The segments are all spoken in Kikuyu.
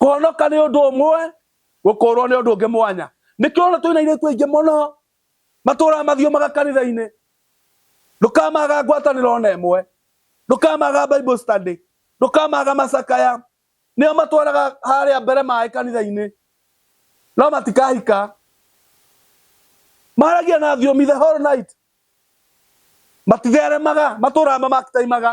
Kũhonoka nĩ ũndũ ũmwe, gũkũũrwo nĩ ũndũ ũngĩ mwanya. Nĩkĩo ũrona twĩna airĩtu aingĩ mũno matũũraga mathiũmaga kanitha-inĩ, ndũkamaga ngwatanĩro ona ĩmwe, ndũkamaga Bible study, ndũkamaga macakaya. Nĩo matwaraga harĩa mbere maĩ kanitha-inĩ, no matikahika. Maragia na thiomi the whole night, matitheremaga, matũũraga mamakitaimaga.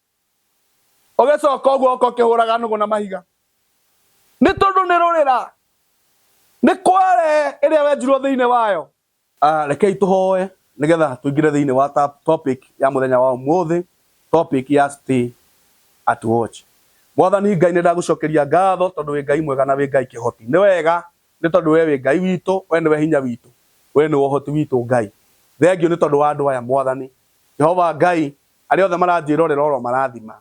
ũgĩcoka ũguo ũka ũkĩhũraga nũgũ na mahiga nĩ tondũ nĩ rũrĩra nĩ kware ĩrĩa wenjirwo thĩinĩ wayo Ah, rekei tũhoe nĩgetha tũingĩre thĩinĩ wa ta- topic ya mũthenya wa ũmũthĩ topic ya stay at watch mwathani ngai nĩ ndagũcokeria ngatho tondũ wĩ ngai mwega na wĩ ngai kĩhoti nĩ wega nĩ tondũ we wĩ ngai witũ we nĩwe hinya witũ we nĩwe ũhoti witũ ngai thengiũ nĩ tondũ wa andũ aya mwathani jehova ngai Arĩa othe maranjĩrorera ũromarathima,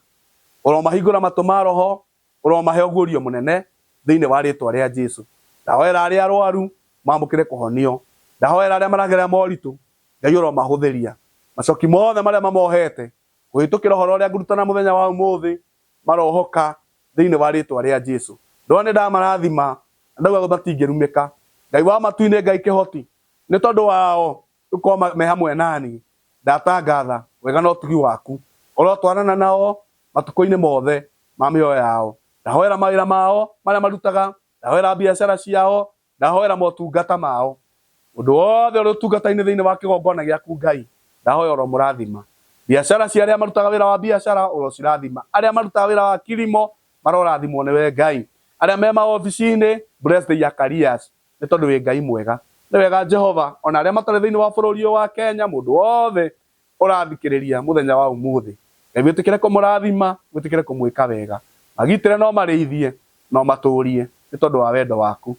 ũromahingũra matũ ma roho, ũromahe ũguũrio mũnene thĩinĩ wa rĩĩtwa rĩa Jesu. Ndahoera arĩa arwaru mamũkĩre kũhonio. Ndahoera arĩa maragerera moritũ, Ngai ũromahũthĩria. Macoki mothe marĩa mamohete kũhĩtũkĩra ũhoro ũrĩa ngũrutana mũthenya wa ũmũthĩ, marohoka thĩinĩ wa rĩĩtwa rĩa Jesu. Ndona nĩ ndamarathima na ndauga matingĩrumĩka. Ngai wa matu-inĩ, Ngai kĩhoti, nĩ tondũ wao Tũkoma me hamwe nani. Ndatangatha wega na ũtugi waku. Ũrotwarana nao matukũinĩ mothe ma mĩoyo yao. Ndahoera mawĩra mao marĩa marutaga. Ndahoera biacara ciao. Ndahoera motungata mao. Mũndũ wothe ũrĩ ũtungatainĩ thĩinĩ wa kĩgongona gĩaku Ngai, ndahoya ũromũrathima. Biacara cia arĩa marutaga wĩra wa biacara ũrocirathima. Arĩa marutaga wĩra wa kilimo marorathimwo nĩwe Ngai. Arĩa me maobicinĩ, bless their careers. Nĩ tondũ wĩ Ngai mwega. Nĩ wega Jehova ona arĩa matarĩ thĩinĩ wa bũrũri ũyũ wa Kenya mũndũ wothe ũrathikĩrĩria mũthenya wa ũmũthĩ Ngai wĩtĩkĩre kũmũrathima wĩtĩkĩre kũmwĩka wega magitĩre na ũmarĩithie na ũmatũrie nĩ tondũ wa wendo waku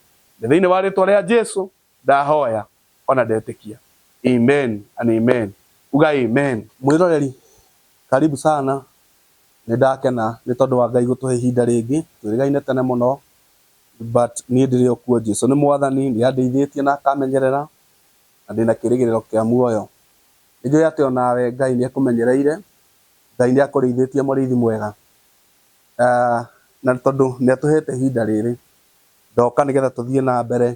nĩ thĩinĩ wa rĩtwa rĩa Jesu ndahoya ona ndetĩkia Amen and Amen uga Amen. Mwĩroreri karibu sana, nĩndakena nĩ tondũ wa Ngai gũtũhe ihinda rĩngĩ, twĩrĩgaine tene mũno, But niĩ ndĩrĩ o kuo Jesu nĩ mwathani nĩ andeithĩtie na akamenyerera na ndĩna kĩrĩgĩrĩro kĩa muoyo. Nĩ njũĩ atĩ o nawe Ngai nĩ akũmenyereire, Ngai nĩ akũrĩithĩtie mũrĩithi mwega. Na tondũ nĩ atũhete ihinda rĩrĩ ndoka nĩ getha tũthiĩ na mbere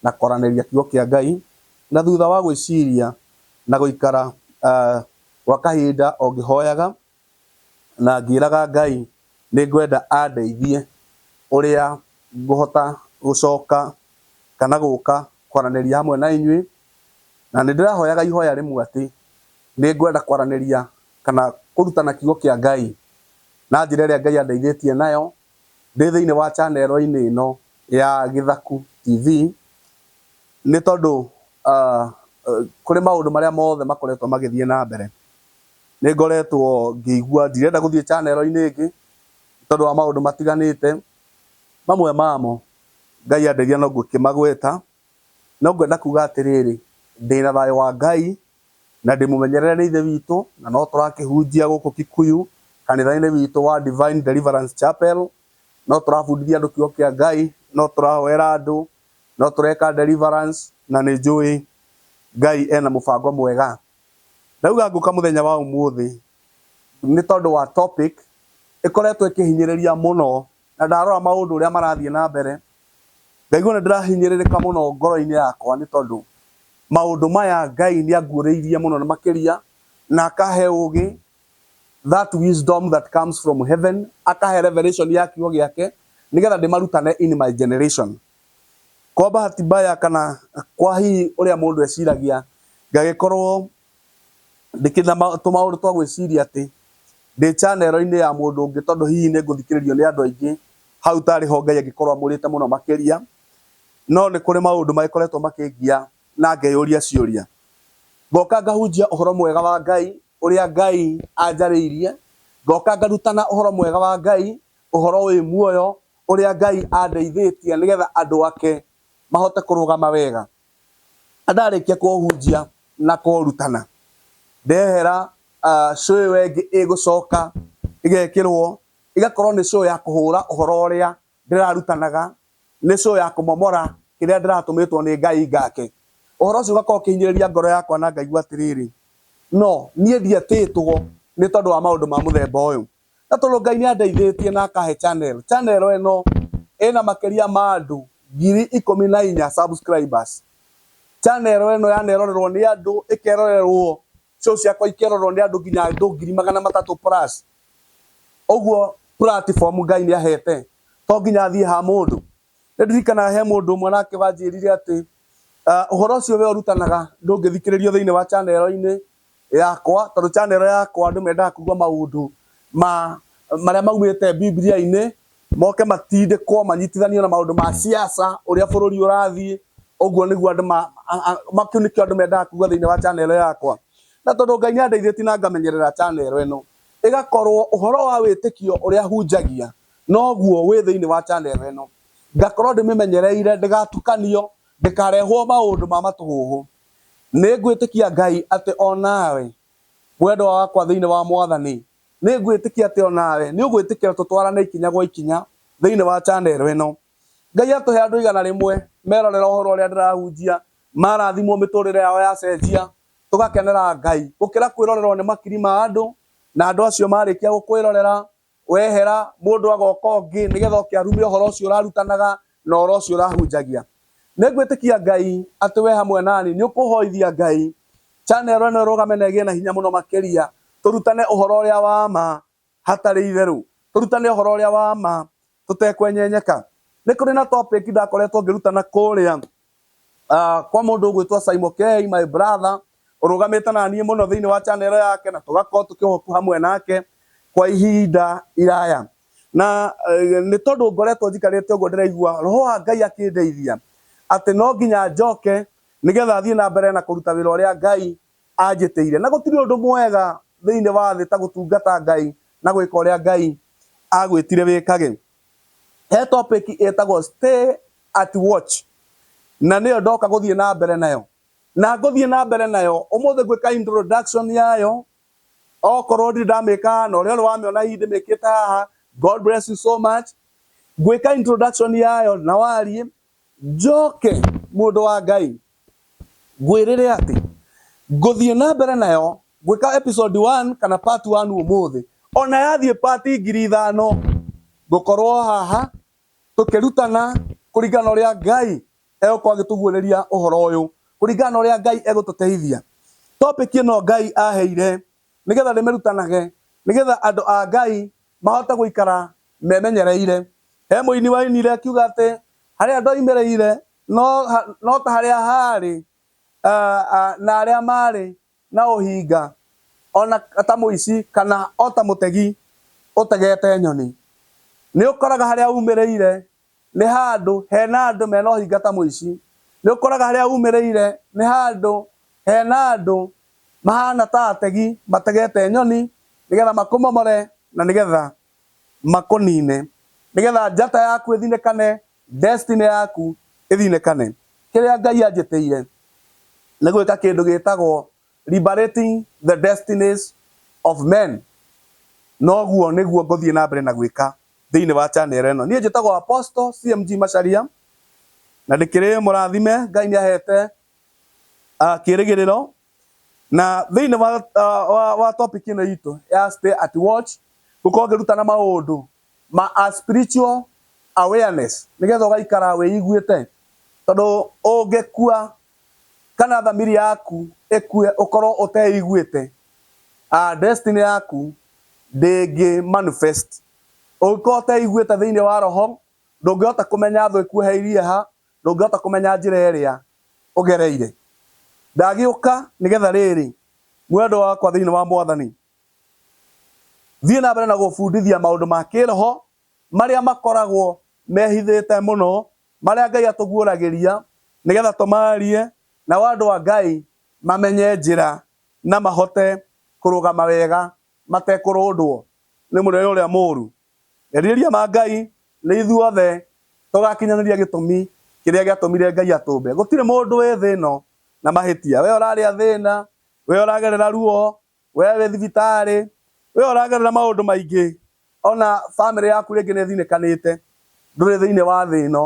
na kwaranĩria kiugo kĩa Ngai na thutha wa gwĩciria na gũikara gwa kahinda o ngĩhoyaga na ngĩraga Ngai nĩ ngwenda andeithie ũrĩa ngũhota gũcoka kana gũka kwaranĩria hamwe na inyuĩ, na nĩ ndĩrahoyaga ihoya rĩmwe atĩ nĩ ngwenda kwaranĩria kana kũrutana kiugo kĩa Ngai na njĩra ĩrĩa Ngai andeithĩtie nayo ndĩ thĩinĩ wa channel inĩ ĩno ya Gĩthaku TV, nĩ tondũ kũrĩ maũndũ marĩa mothe makoretwo magĩthiĩ na mbere. Nĩngoretwo ngĩigua ndirenda gũthiĩ channel inĩ ĩngĩ nĩtondũ wa maũndũ matiganĩte, mamwe mamo Ngai andeithia no ngũkĩmagweta, no ngwenda kuga atĩrĩrĩ, ndĩna thayũ wa Ngai na ndĩmũmenyerere nĩ Ithe witũ na no tũrakĩhunjia gũkũ Kikuyu kanitha-inĩ witũ wa Divine Deliverance Chapel, no tũrabundithia andũ kiugo kĩa Ngai, no tũrahoera andũ, no tũreka deliverance na nĩnjũĩ Ngai ena mũbango mwega. Ndauga ngũka mũthenya wa ũmũthĩ nĩ tondũ wa topic ĩkoretwo ĩkĩhinyĩrĩria mũno na ndarora maũndũ ũrĩa marathiĩ na mbere ngaigua nĩ ndĩrahinyĩrĩrĩka mũno ngoro-inĩ yakwa nĩ tondũ maũndũ maya Ngai nĩ anguũrĩirie mũno na makĩria na akahe ũgĩ that wisdom that comes from heaven, akahe revelation ya kiugo gĩake nĩgetha ndĩmarutane in my generation. Kwa bahati mbaya kana kwa hihi ũrĩa mũndũ eciragia, ngagĩkorwo ndĩkĩna tũmaũndũ twa gwĩciria atĩ ndĩ channel inĩ ya mũndũ ũngĩ tondũ hihi nĩ ngũthikĩrĩrio nĩ andũ aingĩ, hau tarĩ ho Ngai angĩkorwo amũrĩte mũno makĩria. No nĩ kũrĩ maũndũ magĩkoretwo makĩngia na ngeyũria ciũria. Ngoka ngahunjia ũhoro mwega wa Ngai, ũrĩa Ngai anjarĩirie, ngoka ngarutana ũhoro mwega wa Ngai, ũhoro wĩ muoyo, ũrĩa Ngai andeithĩtie nĩgetha andũ ake mahote kũrũgama wega. Na ndarĩkia kũũhunjia na kũũrutana, ndehera show ĩyo ĩngĩ ĩgũcoka ĩgekĩrwo, ĩgakorwo nĩ show ya kũhũra ũhoro ũrĩa ndĩrarutanaga nĩ show ya kũmomora kĩrĩa ndĩratũmĩtwo nĩ Ngai ngake. Ũhoro ũcio ũgakorwo ũkĩhinyĩrĩria ngoro yakwa na ngaigua atĩrĩrĩ, 'No niĩ ndietĩtwo nĩ tondũ wa maũndũ ma mũthemba ũyũ. No tondũ Ngai nĩ andeithĩtie na akahe channel, channel ĩno ĩna makĩria ma andũ ngiri ikũmi na inya subscribers. Channel ĩno yanerorerwo nĩ andũ, ĩkerorerwo show ciakwa ikerorwo nĩ andũ nginya andũ ngiri magana matatũ plus ũguo platform ngai nĩ ahete to nginya athiĩ ha mũndũ nĩ ndirikanaga he mũndũ ũmwe nake wanjĩrire atĩ ah, ũhoro ũcio we ũrutanaga ndũngĩthikĩrĩrio thĩinĩ wa chanero-inĩ yakwa tondũ chanero yakwa andũ mendaga kũigua maũndũ ma marĩa maumĩte bibilia-inĩ moke matindĩkwo manyitithanio na maũndũ ma siasa ũrĩa bũrũri ũrathiĩ ũguo nĩguo andũ makĩu nĩkĩo andũ mendaga kugua thĩinĩ wa channel yakwa na tondũ Ngai nĩ andeithĩtie na ngamenyerera channel ĩno ĩgakorwo ũhoro wa wĩtĩkio ũrĩa hunjagia noguo wĩ thĩinĩ wa channel ĩno ngakorwo ndĩmĩmenyereire ndĩgatukanio ndĩkarehwo maũndũ ma matũhũhũ nĩ ngwĩtĩkia Ngai atĩ onawe mwendwa wakwa thĩinĩ wa mwathani Nĩ ngwĩtĩkia atĩ o nawe nĩ ũgwĩtĩkĩra tũtwarane ikinya gwa ikinya thĩinĩ wa chanero ĩno. Ngai atũhe andũ igana rĩmwe merorera ũhoro ũrĩa ndĩrahunjia, marathimwo mĩtũrĩre yao yacenjia, tũgakenera Ngai, gũkĩra kwĩrorerwo nĩ makiri ma andũ, na andũ acio marĩkia gũkwĩrorera, wehera, mũndũ agoka ũngĩ nĩgetha oke arume ũhoro ũcio ũrarutanaga na ũhoro ũcio ũrahunjagia. Nĩ ngwĩtĩkia Ngai atĩ we hamwe nani nĩ ũkũhoithia Ngai channel ĩno ĩrũgame na ĩgĩe na hinya mũno makĩria, tũrutane ũhoro ũrĩa wa ma hatarĩ itherũ, tũrutane ũhoro ũrĩa wa ma tũtekwenyenyeka. Nĩ kũrĩ na topic ndakoretwo ngĩrutana kũrĩa kwa mũndũ ũgwĩtwo Saimo Kei, my brother, ũrũgamĩte na niĩ mũno thĩinĩ wa channel yake na tũgakorwo tũkĩhoku hamwe nake kwa ihinda iraya na eh, nĩ tondũ ngoretwo njikarĩte ũguo ndĩraigua roho wa Ngai akĩndeithia atĩ no nginya njoke nĩgetha thiĩ na mbere na kũruta wĩra ũrĩa Ngai anjĩtĩire na gũtirĩ ũndũ mwega thĩinĩ wa thĩ ta gũtungata Ngai na gwĩka ũrĩa Ngai agwĩtire wĩkage he topic ĩtagwo stay at watch na nĩyo ndoka gũthiĩ na mbere nayo Na ngũthiĩ na mbere nayo ũmũthĩ ngwĩka introduction yayo okorwo ndirĩ ndamĩka haha na ũrĩa ũrĩ wamĩona hihi ndĩmĩkĩte haha God bless you so much ngwĩka introduction yayo na warie njoke mũndũ wa Ngai ngwĩrĩre atĩ ngũthiĩ na mbere nayo ngwĩka episode 1 kana part 1 ũmũthĩ ona yathiĩ part ngiri ithano ngũkorwo haha tũkĩrutana kũringana na ũrĩa Ngai egũkorwo agĩtũguũrĩria ũhoro ũyũ kũringana na ũrĩa Ngai egũtũteithia. Topic ĩno Ngai aheire nĩgetha ndĩmĩrutanage nĩgetha andũ a Ngai mahote gũikara memenyereire. He mũini wainire akiuga atĩ harĩa ndoimĩrĩire no ta harĩa haarĩ na arĩa maarĩ na ũhinga, o na ta mũici kana o ta mũtegi ũtegete nyoni. Nĩ ũkoraga harĩa umĩrĩire nĩ handũ hena andũ mena ũhinga ta mũici. Nĩ ũkoraga harĩa umĩrĩire nĩ handũ hena andũ mahana ta ategi mategete nyoni nĩ getha makũmomore na nĩ getha makũnine. Nĩ getha njata yaku ĩthinĩkane Destiny yaku ĩthinĩkane. Kĩrĩa Ngai anjĩtĩire nĩ gwĩka kĩndũ gĩtagwo liberating the destinies of men. Na ũguo nĩguo ngũthiĩ na mbere na gwĩka thĩinĩ wa channel ĩno. Niĩ njĩtagwo Apostle CMG Macharia, na ndĩkĩrĩ mũrathime, Ngai nĩ ahete kĩĩrĩgĩrĩro. Na thĩinĩ wa topic ĩno itũ ya stay at watch, ngũkorwo ngĩrutana maũndũ ma a spiritual awareness nigetha ugaikara wiiguite tondu ungikua kana thamiri yaku ikue ukorwo uteiguite a destiny yaku ndingi manifest ungikorwo uteiguite thiini wa roho ndungihota kumenya thu ikuoheirie ha ndungihota kumenya njira iria ugereire ndagiuka nigetha riri mwendwa wakwa thiini wa mwathani Thiĩ na mbere na gũbundithia maũndũ ma kĩĩroho marĩa makoragwo mehithĩte mũno, marĩa Ngai atũguũragĩria nĩgetha tũmaarie, nao andũ a Ngai mamenye njĩra na mahote kũrũgama wega matekũrũndwo nĩ mũnene ũrĩa mũũru. Merirĩria ma Ngai nĩ ithuothe tũgakinyanĩria gĩtũmi kĩrĩa gĩatũmire Ngai atũmbe. Gũtirĩ mũndũ wĩ thĩ ĩno na mahĩtia. Wee ũrarĩa thĩna, wee ũragerera ruo, Wee wĩ thibitarĩ, wee ũragerera maũndũ maingĩ, o na famĩlĩ yaku rĩngĩ nĩ ĩthinĩkanĩte. Ndũrĩ thĩinĩ wa thĩ ĩno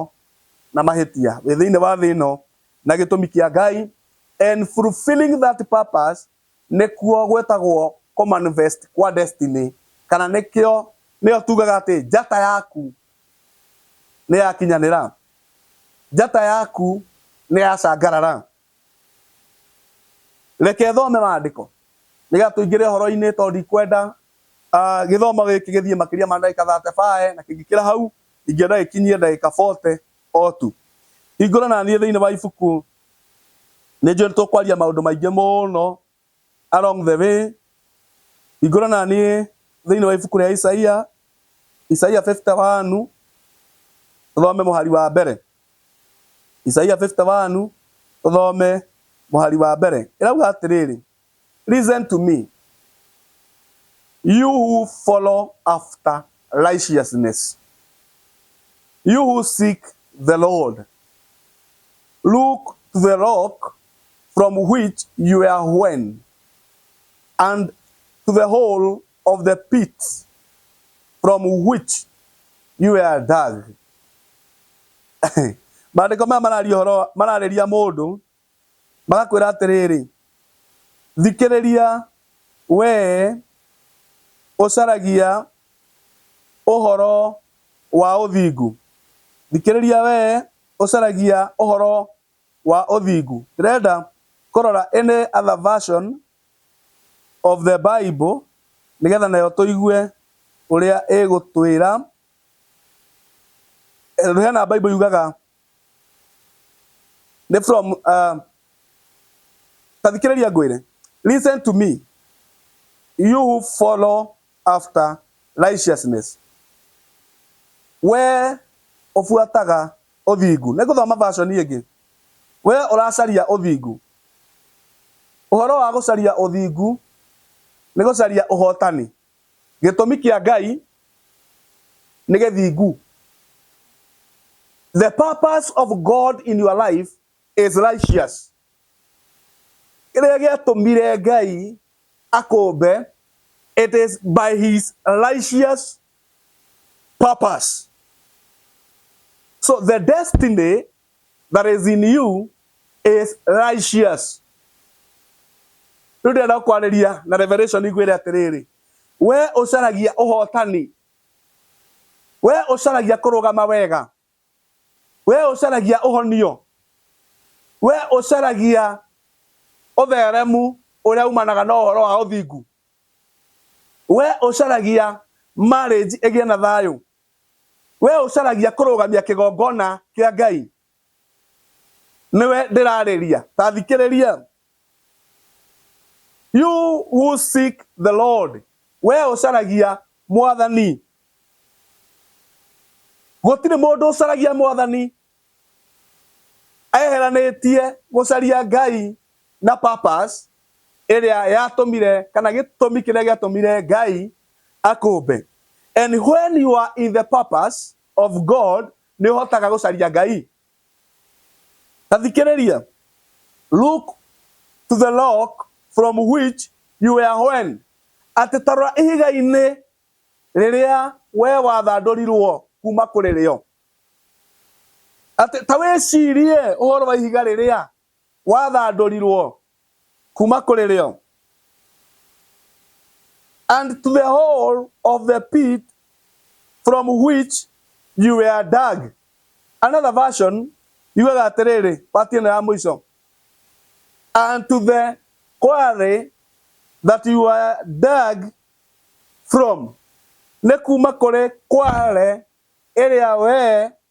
na mahĩtia. Wĩ thĩinĩ wa thĩ ĩno na gĩtũmi kĩa Ngai and fulfilling that purpose nĩkuo gwĩtagwo kũmanifest kwa destiny kana nĩkĩo, nĩyo tugaga atĩ njata yaku nĩ yakinyanĩra. Njata yaku nĩ yacangarara. reke thome maandĩko nĩgetha tũingĩre horo-inĩ tondũ ndikwenda ah, gĩthomo gĩkĩ gĩthiĩ makĩria ma ndagĩka 35 na kĩngĩkĩra hau ingĩenda gĩkinyie ndagĩka 40 o tu hingũra na niĩ thĩinĩ wa ibuku nĩ njũĩ nĩ tũkwaria maũndũ maingĩ mũno Along the way, hingũra na niĩ thĩinĩ wa ibuku rĩa Isaia, Isaia 51, tũthome mũhari wa mbere. Isaia 51, tũthome mũhari wa mbere. Ĩrauga atĩrĩrĩ, Listen to me, you who follow after righteousness, you who seek the Lord, look to the rock from which you were hewn, and to the hole of the pit from which you were dug. Maandĩko maya mararia ũhoro mararĩria mũndũ magakwĩra atĩrĩrĩ, thikĩrĩria wee ũcaragia ũhoro wa ũthingu, thikĩrĩria wee ũcaragia ũhoro wa ũthingu. Ndĩrenda kũrora any other version of the Bible nĩgetha nayo tũigue ũrĩa ĩgũtwĩra. Tondũ hena Bible yugaga nĩ from ta thikĩrĩria ngwĩre. Listen to me you who follow after righteousness, wee ũbuataga Ũthingu. Nĩ ngũthoma version ĩngĩ. Wee ũracaria ũthingu. Ũhoro wa gũcaria ũthingu nĩ gũcaria ũhotani. Gĩtũmi kĩa Ngai nĩ gĩthingu. The purpose of God in your life is righteous. Kĩrĩa gĩatũmire Ngai akũmbe, it is by his righteous purpose. So the destiny that is in you is righteous. Rĩu ndĩrenda kwarĩria na revelation igwĩre atĩrĩrĩ, we ũcaragia ũhotani, we ũcaragia kũrũgama wega, Wee ũcaragia ũhonio? Wee ũcaragia ũtheremu ũrĩa umanaga na ũhoro wa ũthingu? Wee ũcaragia marriage ĩgĩe na thayũ? Wee ũcaragia kũrũgamia kĩgongona kĩa Ngai? Nĩwe ndĩrarĩria. Ta thikĩrĩria. You who seek the Lord. We ũcaragia mwathani. Gũtirĩ mũndũ ũcaragia mwathani eheranĩtie gũcaria Ngai na purpose ĩrĩa yatũmire kana gĩtũmi kĩrĩa gĩatũmire Ngai akũmbe. And when you are in the purpose of God nĩ ũhotaga gũcaria Ngai. Ta thikĩrĩria. Look to the rock from which you were when. Atĩ ta rora ihiga-inĩ rĩrĩa we wathandũrirwo kuma kũrĩ rĩo. Atĩ ta wĩcirie ũhoro wa ihiga rĩrĩa wathandũrirwo kuma kũrĩ rĩo. And to the hole of the pit from which you were dug. Another version yugaga atĩrĩrĩ, pati ĩno ya mũico. And to the quarry that you were dug from. Nĩ kuma kũrĩ kware ĩrĩa wee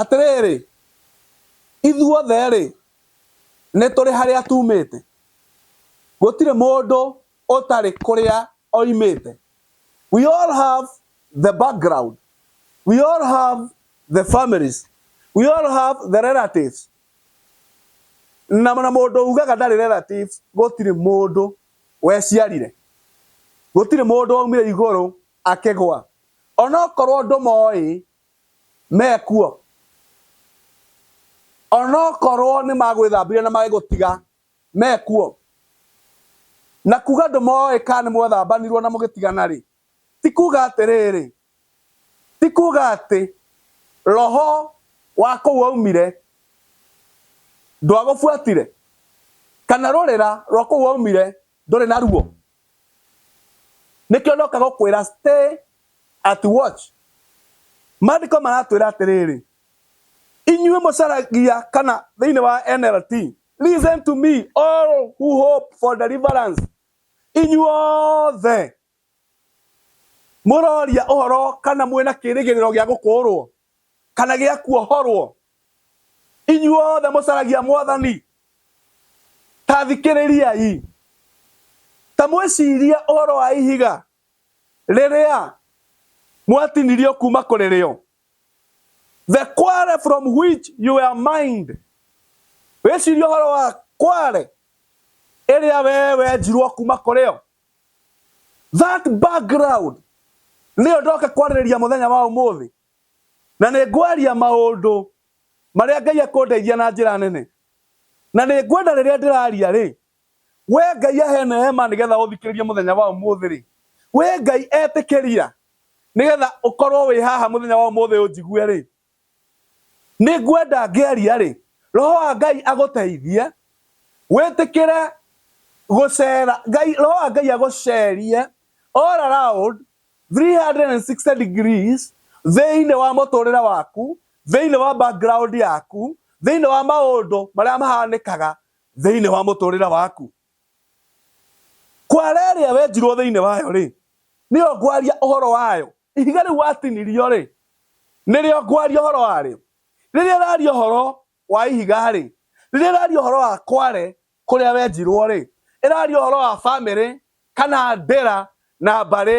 Atĩrĩrĩ, ithuothe-rĩ, nĩtũrĩ harĩa tuumĩte, gũtirĩ mũndũ ũtarĩ kũrĩa oimĩte, we all have the background, we all have the families, we all have the relatives, na na mũndũ ugaga ndarĩ relatives gũtirĩ mũndũ weciarire, gũtirĩ mũndũ waumire igũrũ Akĩgũa. O na okorwo ndũmooĩ, me kuo. O na okorwo nĩ magwĩthambire na magĩgũtiga, me kuo. Na kuuga ndũmooĩ kana nĩ mwethambanirwo na mũgĩtigana-rĩ, ti kuuga atĩrĩrĩ, ti kuuga atĩ roho wa kũu waumire ndwagũbuatire, kana rũrĩra rwa kũu waumire ndũrĩ naruo? nĩkĩo ndoka gũkwĩra stay at watch maandĩko maratwĩra atĩrĩrĩ inyuĩ mũcaragia kana thĩinĩ wa NLT listen to me all who hope for deliverance inyuothe mũroria ũhoro kana mwĩna kĩrĩgĩrĩro gĩa gũkũũrwo kana gĩa kuohorwo inyuothe mũcaragia mwathani ta thikĩrĩriai ta mwĩciria ũhoro wa ihiga rĩrĩa mwatinirio kuma kũrĩ rĩo the quarry from which you were mined wĩciria ũhoro wa kware ĩrĩa wee wenjirwo kuma kũrĩ yo That background nĩyo ndoka kwarĩrĩria mũthenya wa ũmũthĩ, na nĩ ngwaria maũndũ marĩa Ngai akũndeithia na njĩra nene, na nĩ ngwenda rĩrĩa ndĩraria rĩ, we Ngai ahe neema nĩgetha ũthikĩrĩrie mũthenya wa ũmũthĩ rĩ, we Ngai etĩkĩria nĩgetha ũkorwo wĩ haha mũthenya wa ũmũthĩ ũnjigue rĩ, Nĩ ngwenda ngĩaria-rĩ, Roho wa Ngai agũteithie wĩtĩkĩre gũcera, Ngai, Roho wa Ngai agũcerie all around 360 degrees thĩinĩ wa mũtũrĩre waku, thĩinĩ wa background yaku, thĩinĩ wa maũndũ marĩa mahanĩkaga thĩinĩ wa mũtũrĩre waku. Kwara ĩrĩa wenjirwo thĩinĩ wayo-rĩ, nĩyo ngwaria ũhoro wayo, ihiga rĩu watinirio-rĩ, nĩrĩo ngwaria ũhoro warĩo. Rĩrĩa ũraria ũhoro wa ihiga-rĩ, rĩrĩa ũraria ũhoro wa Kware kũrĩa wenjirwo-rĩ, ĩraria ũhoro wa bamĩrĩ kana ndĩra na mbarĩ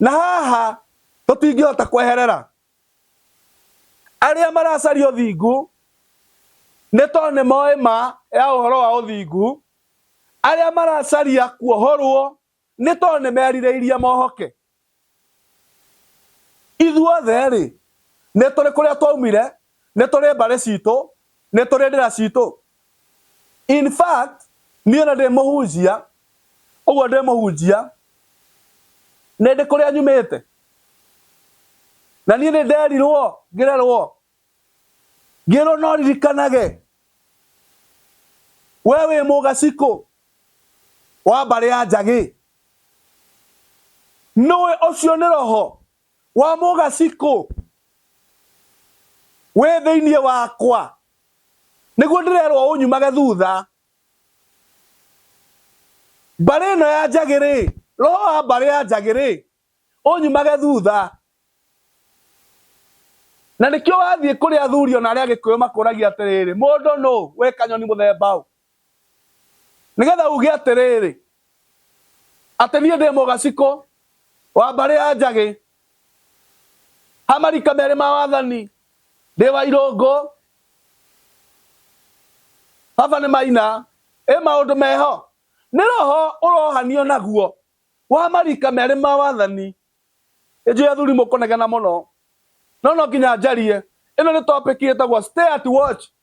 na haha to tingĩhota kweherera arĩa maracaria ũthingu nĩ tondũ nĩ moĩ ma ya ũhoro wa ũthingu arĩa maracaria kuohorwo nĩ tondũ nĩ merirĩirie mohoke ithuothe rĩ nĩ tũrĩ kũrĩa twaumire Nĩ tũrĩ mbarĩ citũ, nĩ tũrĩ ndĩra citũ. In fact, niĩ ona ndĩ mũhunjia, ũguo ndĩ mũhunjia, nĩ ndĩ kũrĩa nyumĩte. Na niĩ nĩ nderirwo ngĩrerwo, ngĩrwo no ririkanage we wĩ mũgacikũ wa mbarĩ ya Njagĩ. Nĩũĩ ũcio nĩ roho. Wa mũgacikũ wĩ thĩinĩ wakwa, nĩguo ndĩrerwo ũnyumage thutha. Mbarĩ ĩno ya njagĩ-rĩ, roho wa mbarĩ ya njagĩ-rĩ, ũnyumage thutha. Na nĩkĩo wathiĩ kũrĩ athuri ona arĩa Agĩkũyũ makũragia atĩrĩrĩ, mũndũ nũ? We kanyoni mũthemba ũ? nĩgetha uge atĩrĩrĩ atĩ niĩ ndĩ mũgacikũ wa mbarĩ ya njagĩ ha marika merĩ ma wathani ndĩ wa irũngũ baba nĩ maina ĩ maũndũ meho nĩ roho ũrohanio naguo wa marika merĩ ma wathani ĩnjũĩ athuri mũkũnegena mũno no no nginya njarie ĩno nĩ topic ĩtagwo stay at watch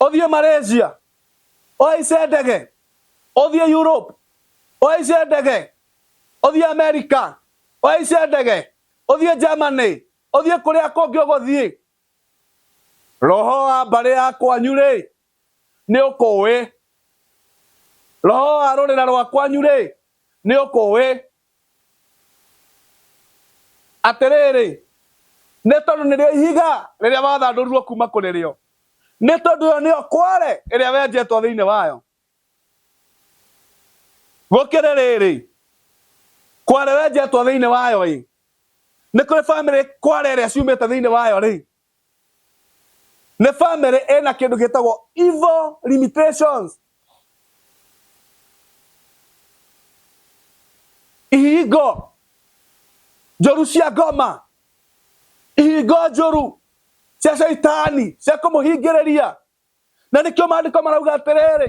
othie Malaysia, ohaice ndege, othie Europe, ohaice ndege, othie America, ohaice ndege, othie Germany, othie kuria kungi uguthie. Roho wa mbari ya kwanyu ri ni ukuwi. Roho wa rurira rwa kwanyu ri ni ukuwi. Atĩrĩrĩ, nĩ tondũ nĩrĩo ihiga rĩrĩa wathandũrirwo kuuma kũrĩ rĩo, nĩ tondũ ĩyo nĩyo kware ĩrĩa wenjetwo thĩinĩ wayo. Gũkĩrĩ rĩrĩ, kware wenjetwo thĩinĩ wayo-ĩ, nĩ kũrĩ bamĩrĩ kware ĩrĩa ciumĩte thĩinĩ wayo-rĩ, nĩ family ĩna kĩndũ gĩtagwo evil limitations ihingo njũru cia ngoma ihingo njũru cia caitani cia kũmũhingĩrĩria na nĩkĩo maandĩko marauga atĩrĩrĩ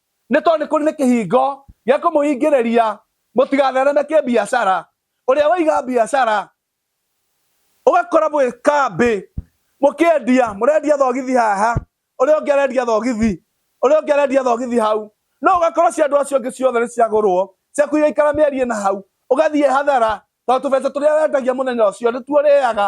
nĩ tondũ nĩ kũrĩ nĩ kĩhingo gĩa kũmũingĩrĩria mũtigathereme kĩbiacara ũrĩa waiga biacara ũgakora mwĩ kambĩ mũkĩendia mũrendia thogithi haha ũrĩa ũngĩ arendia thogithi ũrĩa ũngĩ arendia thogithi hau no ũgakora cia andũ acio angĩ ciothe nĩ ciagũrwo ciaku igaikara mĩeri ĩna hau ũgathiĩ hathara tondũ tũbeca tũrĩa wendagia mũthenya ũcio nĩtuo ũrĩaga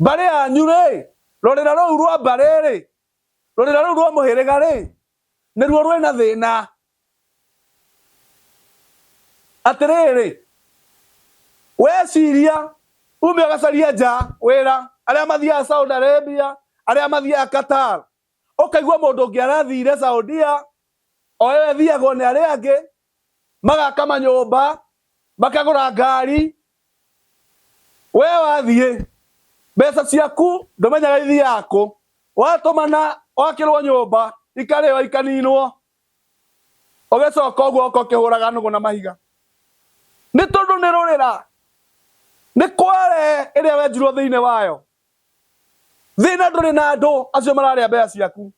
Mbarĩ yanyu rĩ, rũrĩra rũu rwa mbarĩ rĩ, rũrĩra rũu rwa mũhĩrĩga rĩ, nĩruo rwĩ na thĩna. Atĩrĩrĩ, weciria ume ũgacarie nja wĩra, arĩa mathiaga Saudi Arabia, arĩa mathiaga Qatar, Ũkaigua mũndũ ũngĩ arathiire Saudia, o ĩyo ĩthiagwo nĩ arĩa angĩ, magaka manyũmba, makagũra ngari. Wee wathiĩ, mbeca ciaku ndũmenyaga ithiaga kũ. Watũmana wakĩrwo nyũmba, ikarĩo ikaninwo, ũgĩcoka ũguo ũgoka ũkĩhũraga nũgũ na mahiga. Nĩ tondũ nĩ rũrĩra, nĩ kware ĩrĩa wenjirwo thĩinĩ wayo. thina nduri na andu acio mararia mbeca ciaku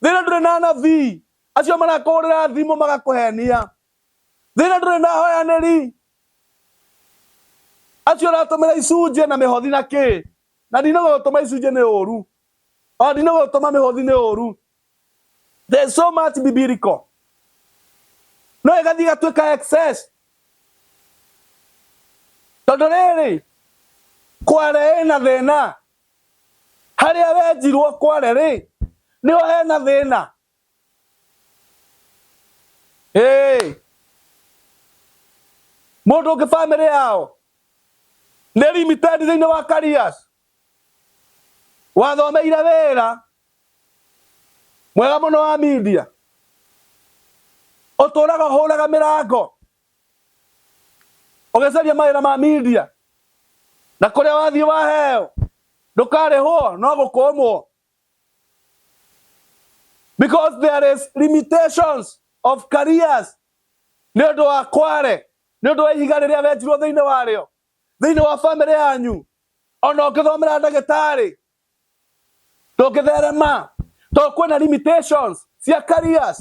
thina nduri na nabii acio marakuhurira thimu magakuhenia thina nduri na hoyaniri acio uratumira icunje na mihothi na ki na ndino gutuma icunje ni uru ona ndino gutuma mihothi ni uru There's so much biblical. No ĩgathiĩ ĩgatuĩka excess. Tondũ rĩrĩ, Kware ĩna thĩna. Harĩa wenjirwo Kware rĩ, nĩho hena thĩna. Hey. Mũndũ ũngĩ famĩlĩ yao nĩ limited thĩinĩ wa careers. Wathomeire wĩra mwega mũno wa media ũtũraga ũhũraga mĩrango ũgĩcaria mawĩra ma media na kũrĩa wathiĩ waheo ndũkarĩhwo no gũkũmwo because there is limitations of careers nĩ ũndũ wa kware nĩ ũndũ wa ihiga rĩrĩa wenjirwo thĩinĩ warĩo thĩinĩ wa bamĩrĩ yanyu ona ũngĩthomera ndagĩtarĩ tũngĩtherema to kwĩna limitations cia careers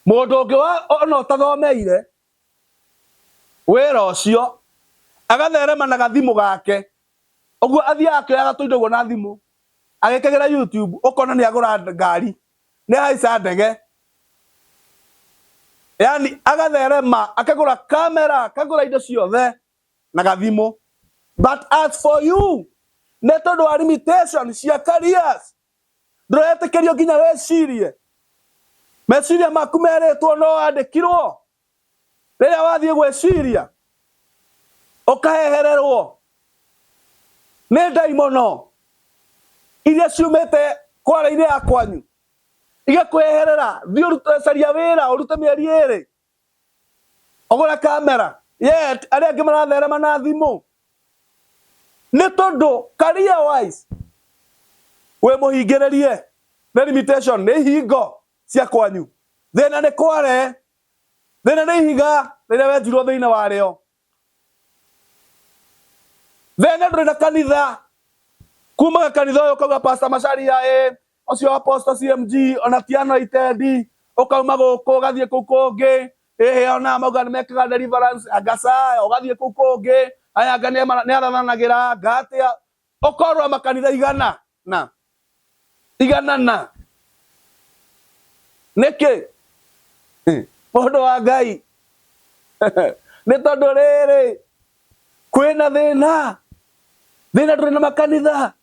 mũndũ ũngĩ wa ona ũtathomeire wĩra ũcio agatherema na gathimũ gake ũguo athiaga akĩoyaga tũindo guo na thimũ agĩkagĩra YouTube ũkona nĩ agũra ngari nĩ ahaica ndege yani agatherema akagũra kamera akagũra indo ciothe na gathimo but as for you nä tondå wa limitation cia careers ndåretĩkĩrio nginya wĩcirie meciria maku merĩtwo no wandĩkirwo rĩrĩa wathiĩ gwĩciria ũkahehererwo nĩ ndaimono iria ciumĩte kwara-inĩ ya kwanyu igakweherera thiĩ ũrute caria wĩra ũrute mĩeri ĩrĩ ũgũre kamera yet arĩa angĩ maratherema na thimũ nĩ tondũ career wise wĩ mũhingĩrĩrie nĩ limitation nĩ ihingo cia kwanyu thĩna nĩ kware thĩna nĩ ihiga rĩrĩa wenjirwo thĩinĩ warĩo thĩna ndũrĩ na kanitha kumaga kanitha ũyũ kauga pastor macaria ĩ ũcio apostle CMG ona ti anwa itendi ukauma guku ugathie kuu kungi hihi ona mauga ni mekaga deliverance agasa ugathie kuu kungi aya nga ni arathanagira ngatia ukorwa makanitha igana na igana na niki mundu wa ngai ni tondu riri kwina thina thina turi na makanitha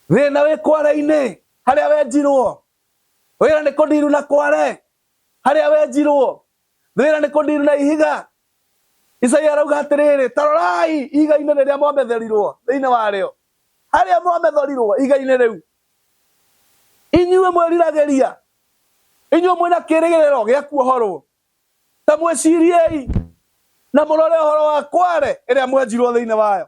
thĩna wĩ kware-inĩ harĩa wenjirwo wĩra nĩ kũndiru na kware harĩa wenjirwo thĩna nĩ kũndiru na ihiga isaia arauga atĩrĩrĩ tarorai ihiga-inĩ rĩrĩa mwametherirwo thĩinĩ warĩo harĩa mwametherirwo ihiga-inĩ rĩu inyuĩ mwĩriragĩria inyuĩ mwĩna kĩrĩgĩrĩro gĩa kuohorwo ta mwĩciriei na mũrore ũhoro wa kware ĩrĩa mwenjirwo thĩinĩ wayo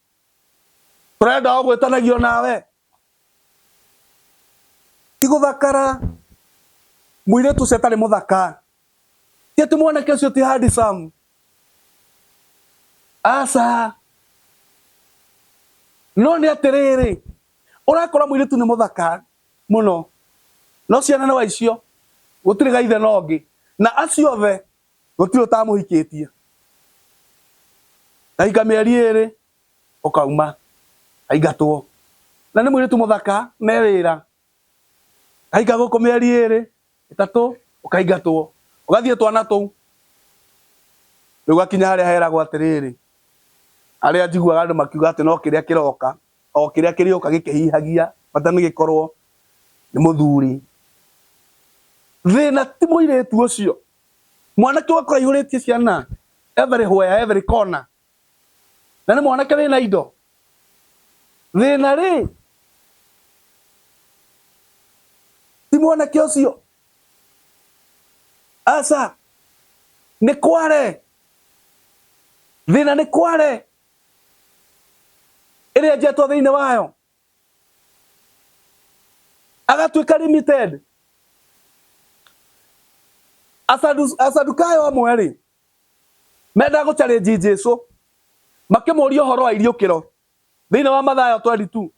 urenda ogwetanagio nawe tiguthakara muiretu ucio atari muthaka ti ati mwanake ucio ti handsome aca no ni atiriri urakora muiretu ni muthaka muno no ciana no icio gutiri gaithe no ngi na acio othe gũtirĩ ũtamũhikĩtie ndaika mĩeri ĩrĩ ũkauma aingatwo na nĩ mũirĩtu mũthaka me wĩra ndaika gũkũ mĩeri ĩrĩ ĩtatũ ũkaingatwo ũgathiĩ twana tũu rĩu gakinya harĩa heragwo atĩrĩrĩ arĩa njiguaga andũ makiuga atĩ no kĩrĩa kĩroka o kĩrĩa kĩrĩoka gĩkĩhihagia bata nĩ gĩkorwo nĩ mũthuri. Thĩna ti mũirĩtu ũcio, mwanake ũgakora aihũrĩtie ciana every where, every corner, na nĩ mwanake wĩna indo. Thĩna rĩ, ti mwanake ũcio, aca, nĩ kware, thĩna nĩ kware. ĩrĩa njetwo thĩinĩ wayo agatuĩka limited asadukayo amwe rĩ menda gå challenge jesu makĩmũria ũhoro wa iriũkĩro thĩinĩ wa mathayo 22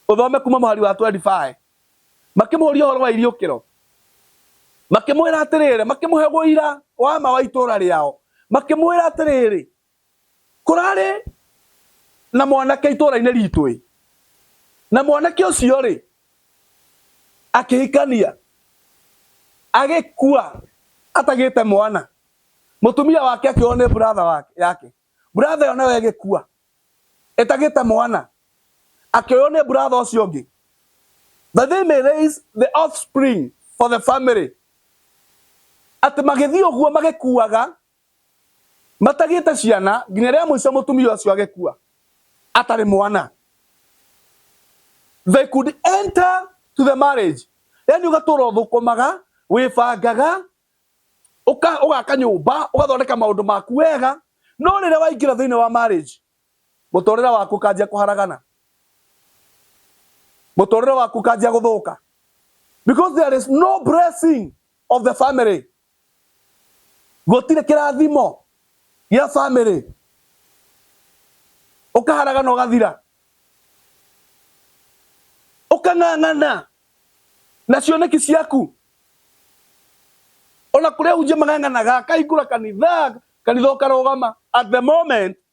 ũthome kuma mũhari wa 25 makĩmũria ũhoro wa iriũkĩro makĩmwĩra atĩrĩrĩ makĩmũhe ũira wa ma wa itũũra rĩao makĩmwĩra atĩrĩrĩ kũrarĩ na mwanake itũũra-inĩ ritũ-ĩ na mwanake ũcio-rĩ akĩhikania agĩkua atagĩte mwana mũtumia wake akĩohwo nĩ brother wake yake brother ĩyo nayo ĩgĩkua ĩtagĩte mwana akĩoywo nĩ brother ũcio ũngĩ that they may raise the offspring for the family atĩ magĩthiĩ ũguo magĩkuaga matagĩte ciana nginya rĩa mũico mũtumia ũcio agĩkua atarĩ mwana they could enter to the marriage yani ugatura uthukumaga wibangaga ugaka nyumba ugathondeka maundu maku wega no rĩrĩa waingĩra thĩinĩ wa marriage mũtũrĩre waku kanjia kuharagana mũtũrĩre waku kanjia guthuka because there is no blessing of the family gũtirĩ kĩrathimo gĩa bamĩrĩ ũkaharaga na ũgathira ũkang'ang'ana na cioneki ciaku ona kũrĩa hunjia mang'ang'anaga akahingũra kanitha kanitha ũkarũgama at the moment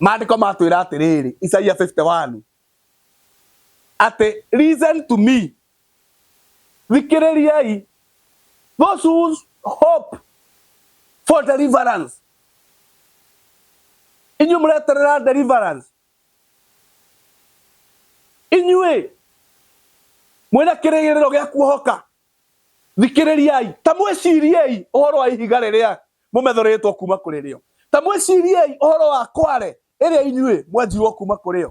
maandĩko matwĩra atĩrĩrĩ isaia 51 atĩ listen to me thikĩrĩriai those who hope for deliverance inyuĩ mũreterera deliverance inyuĩ mwĩna kĩrĩgĩrĩro gĩa kuohoka Thikĩrĩriai, ta mwĩciriei ũhoro wa ihiga rĩrĩa mũmethorĩtwo kuuma kũrĩ rĩo. Ta mwĩciriei ũhoro wa kware ĩrĩa inyuĩ mwenjirwo kuuma kũrĩ yo.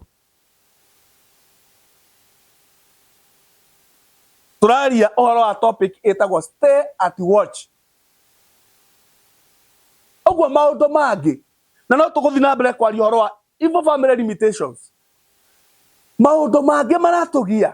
Tũraria ũhoro wa topic ĩtagwo stay at watch. Ũguo maũndũ mangĩ, na no tũgũthiĩ na mbere kwaria ũhoro wa evil family limitations. Maũndũ mangĩ maratũgia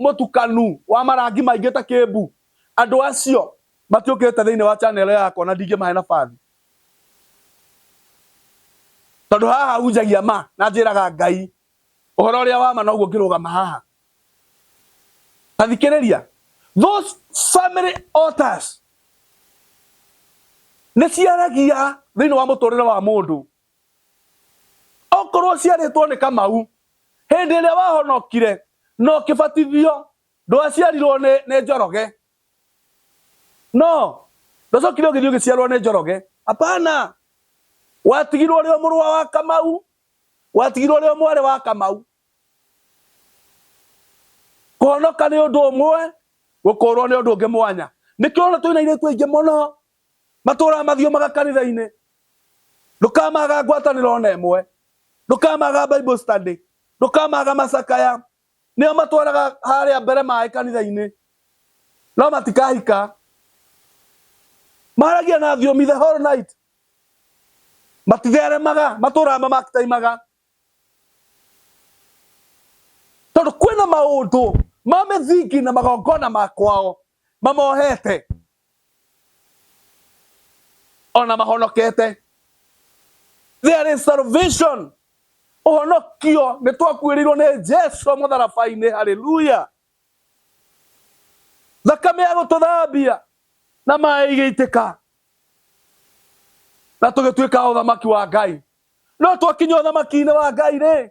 Mũtukanu wa marangi maingĩ ta kĩmbu. Andũ acio matiũkĩte thĩinĩ wa channel yakwa na ndingĩmahe nabathi. Tondũ haha hunjagia ma na njĩraga Ngai ũhoro ũrĩa wa ma noguo ngĩrũgama haha. Ta thikĩrĩria. Those family altars nĩ ciaragia thĩinĩ wa mũtũrĩre wa mũndũ. okorwo ciarĩtwo nĩ kamau hĩndĩ ĩrĩa wahonokire na ũkĩbatithio ndwaciarirwo nĩ, nĩ njoroge no ndũcokire ũgĩthiĩ ũgĩciarwo nĩ njoroge apana watigirwo ũrĩ o mũrũa wa kamau watigirwo ũrĩ o mwarĩ wa kamau kũhonoka nĩ ũndũ ũmwe gũkũũrwo nĩ ũndũ ũngĩ mwanya nĩkĩo ona twĩna irĩtu aingĩ mũno matũũraga mathiũmaga kanitha-inĩ ndũkamaga ngwatanĩro ona ĩmwe ndũkamaga bible study ndũkamaga macakaya nĩo matwaraga harĩa mbere maĩ kanitha-inĩ no matikahika maragia na thiomi the whole night matitheremaga matũũraga mamakitaimaga tondũ kwĩna maũndũ ma mĩthingi na magongona ma kwao mamohete ona mahonokete there is salvation ũhonokio nĩ twakuĩrĩirwo nĩ jesu mũtharabainĩ haleluya thakame ya gũtũthambia na maĩ igĩitĩka na tũgĩtuĩka ũthamaki wa ngai no twakinya ũthamakiinĩ wa ngai rĩ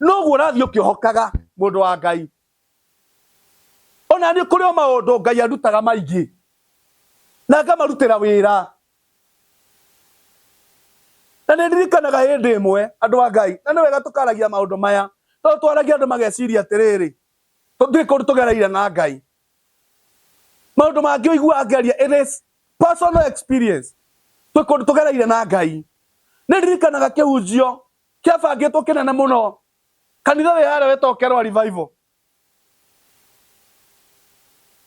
noguo ũrathiĩ ũkĩhokaga mũndũ wa ngai ona niĩ kũrĩ o maũndũ ngai andutaga maingĩ na ngamarutĩra wĩra na nĩ ndirikanaga hĩndĩ ĩmwe andũ a ngai na nĩ wega tũkaragia maũndũ maya tondũ twaragia andũ mageciria atĩrĩrĩ tũtirĩ kũndũ tũgereire na ngai maũndũ mangĩ ũigua angeria it is personal experience twĩ kũndũ tũgereire na ngai nĩ ndirikanaga kĩhunjio Kĩabangĩtwo kĩnene mũno. Kanitha wĩharĩre tokerwa revival.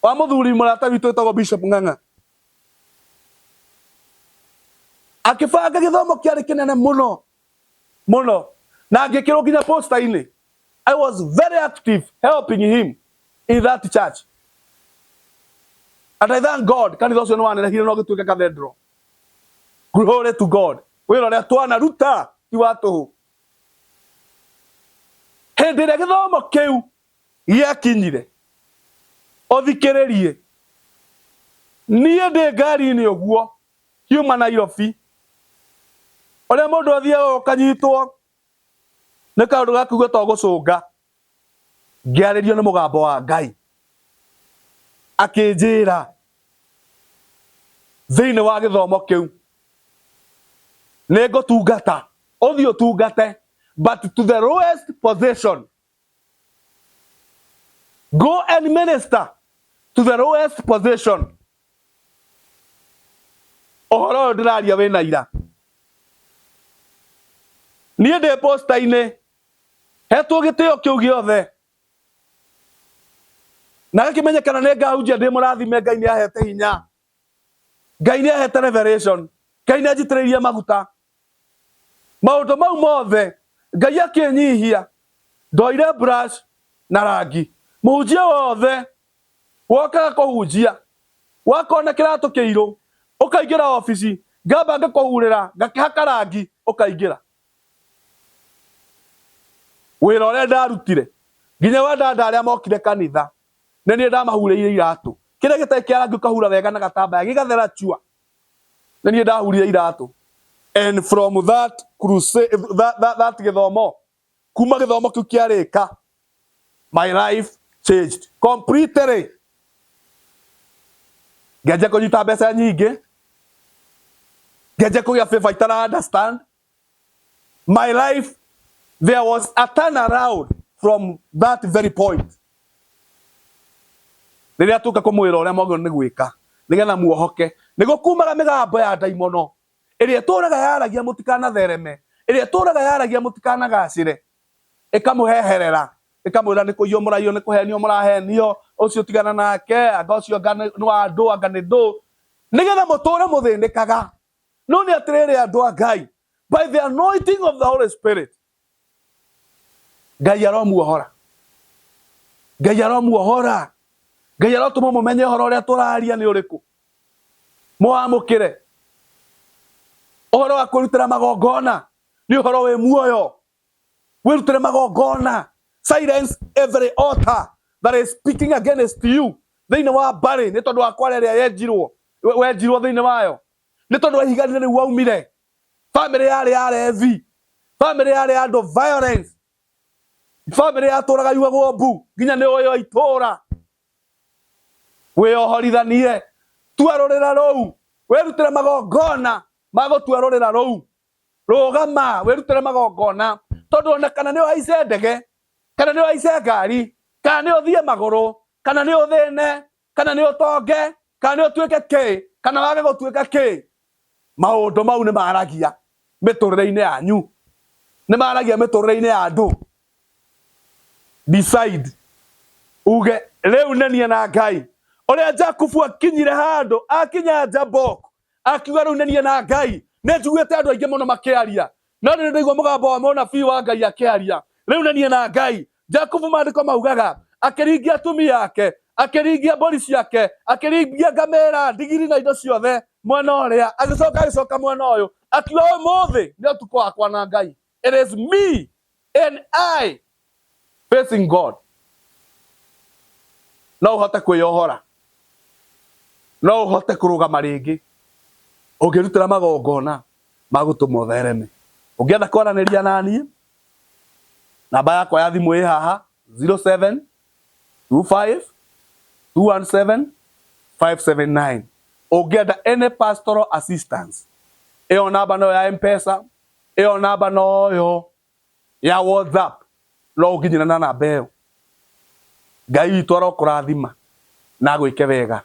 Wa mũthuri mũrata witũ wĩtagwo Bishop Ng'ang'a. Akĩbanga gĩthomo kĩarĩ kĩnene mũno mũno na ngĩkĩrwo nginya posta-inĩ. I was very active helping him in that church. And I thank God kanitha ũcio nĩ wanenehire na ũgĩtuĩka cathedral. Glory to God. wĩrore twana ruta ti wa tũhũ hĩndĩ ĩrĩa gĩthomo kĩu gĩakinyire ũthikĩrĩrie niĩ ndĩ ngari-inĩ ũguo kiuma Nairobi ũrĩa mũndũ athiaga ũkanyitwo nĩ kaũndũ gakugua to gũcũnga ngĩarĩrio nĩ mũgambo wa Ngai akĩnjĩra thĩinĩ wa gĩthomo kĩu nĩ ngũtungata ũthiĩ ũtungate but to the lowest position go and minister to the lowest position ũhoro ũyũ ndĩraria wĩna ira niĩ ndĩ posta-inĩ hetwo gĩtĩo kĩu gĩothe na gĩkĩmenyekana nĩ ngahunjia ndĩ mũrathime ngai nĩ ahete hinya ngai nĩ ahete revelation ngai nĩ anjitĩrĩirie maguta maũndũ mau mothe ngai akĩnyihia ndoire brush na rangi mũhunjia wothe wokaga kũhunjia wakona kĩratũ kĩirũ ũkaingĩra obici ngamba ngakũhurĩra ngakĩhaka rangi ũkaingĩra wĩra ũrĩa ndarutire nginya wandanda arĩa mokire kanitha nĩ niĩ ndamahurĩire iratũ kĩrĩa gĩtarĩ kĩa rangi ũkahura wega na gatambaya gĩgathera chua nĩ niĩ ndahurire iratũ and from that crusade that, that, that gĩthomo kuma gĩthomo kĩu kĩarĩka My life changed completely. Ngenje kũnyita mbeca nyingĩ. Ngenje kũgĩa favor itara understand. My life, there was a turn around from that very point. Rĩrĩa tũka kũmwĩra ũrĩa mwagĩrĩirwo nĩ gwĩka nĩgetha muohoke nĩ gũkumaga mĩgambo ya ndaimono ĩrĩa ĩtũraga yaragia mũtikanathereme ĩrĩa ĩtũraga yaragia mũtikanagacĩre ĩkamũheherera ĩkamwĩra nĩ kũiywo mũraiywo nĩ kũhenio mũrahenio ũcio tigana nake anga ũcio anga nĩ wa ndũ anga nĩ ndũ nĩgetha mũtũre mũthĩnĩkaga no nĩ atĩrĩrĩ andũ a ngai by the anointing of the holy spirit ngai aromuohora ngai aromuohora ngai arotũma mũmenye ũhoro ũrĩa tũraria nĩ ũrĩkũ mũwamũkĩre ũhoro wa kwĩrutĩra magongona nĩ ũhoro wĩ muoyo wĩrutĩre magongona silence every altar that is speaking against you thĩinĩ wa mbarĩ nĩ tondũ wa kwara ĩrĩa yenjirwo we- wenjirwo thĩinĩ wayo nĩ tondũ wa ihiga rĩu waumire famĩlĩ yarĩ ya revi famĩlĩ yarĩ ya andũ violence famĩlĩ yatũraga yuagwo mbu nginya nĩ ũyũ itũra wĩyohorithanie tua rũrĩra rũu wĩrutĩre magongona ma gũtua rũrĩra rũu rũgama wĩrutĩre magongona tondũ ona kana nĩ ũhaice ndege kana nĩ ũhaice ngari kana nĩ ũthiĩ magũrũ kana nĩ ũthĩne kana nĩ ũtonge kana nĩ ũtuĩke kĩ kana wage gũtuĩka kĩ maũndũ mau nĩ maragia mĩtũrĩre-inĩ yanyu nĩ maragia mĩtũrĩre-inĩ ya andũ decide uge rĩu nĩ niĩ na ngai ũrĩa jakubu akinyire handũ akinya jabok akiuga rĩu nĩ niĩ na Ngai. Nĩ njiguĩte andũ aingĩ mũno makĩaria, no nĩ ndaigua mũgambo wa mũnabii wa Ngai akĩaria, rĩu nĩ niĩ na Ngai. Jakubu maandĩko maugaga, akĩringia atumia ake, akĩringia mbũri ciake, akĩringia ngamĩra, ndigiri na indo ciothe mwena ũrĩa, agĩcoka agĩcoka mwena ũyũ, akiuga ũmũthĩ nĩ ũtukũ wakwa na Ngai. It is me and I facing God. No uhote kwĩyohora no uhote kũrũgama rĩngĩ ũngĩrutĩra magongona magũtũma ũthereme ũngĩenda kwaranĩria naniĩ namba yakwa ya thimũ ĩ haha 07 25 217 579 ũngĩenda any pastoral assistance ĩyo namba nayo ya mpesa Ĩyo namba noyo ya WhatsApp no ũnginyĩre na namba ĩyo. Ngai witũ arokũrathima na agwĩke wega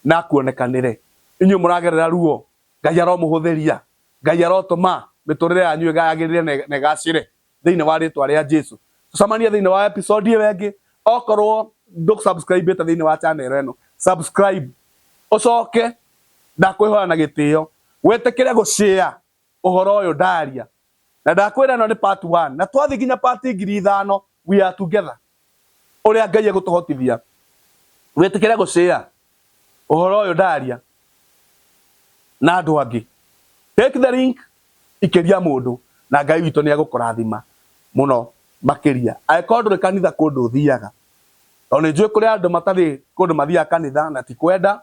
na akuonekanĩre. Inyuĩ mũragerera ruo Ngai aromũhũthĩria. Ngai arotũma mĩtũrĩre yanyu yagĩrĩre na ĩgacĩre thĩinĩ wa rĩtwa rĩa Jesu. Tũcemanie thĩinĩ wa episode ĩyo ĩngĩ. Okorwo ndũ subscribe ĩte thĩinĩ wa channel ĩno subscribe ũcoke ndakwĩhoya na gĩtĩo wĩtĩkĩre gũ share ũhoro ũyũ ndaria na ndakwĩra ĩno nĩ part one na twathi nginya part ngiri ithano we are together ũrĩa Ngai egũtũhotithia wĩtĩkĩre gũshare ũhoro ũyũ ndaria na andũ angĩ take the link ikĩria mũndũ na Ngai witũ nĩ egũkũrathima mũno makĩria angĩkorwo ndũrĩ kanitha kũndũ ũthiaga tondũ nĩ njũĩ kũrĩ andũ matarĩ kũndũ mathiaga kanitha na ti kwenda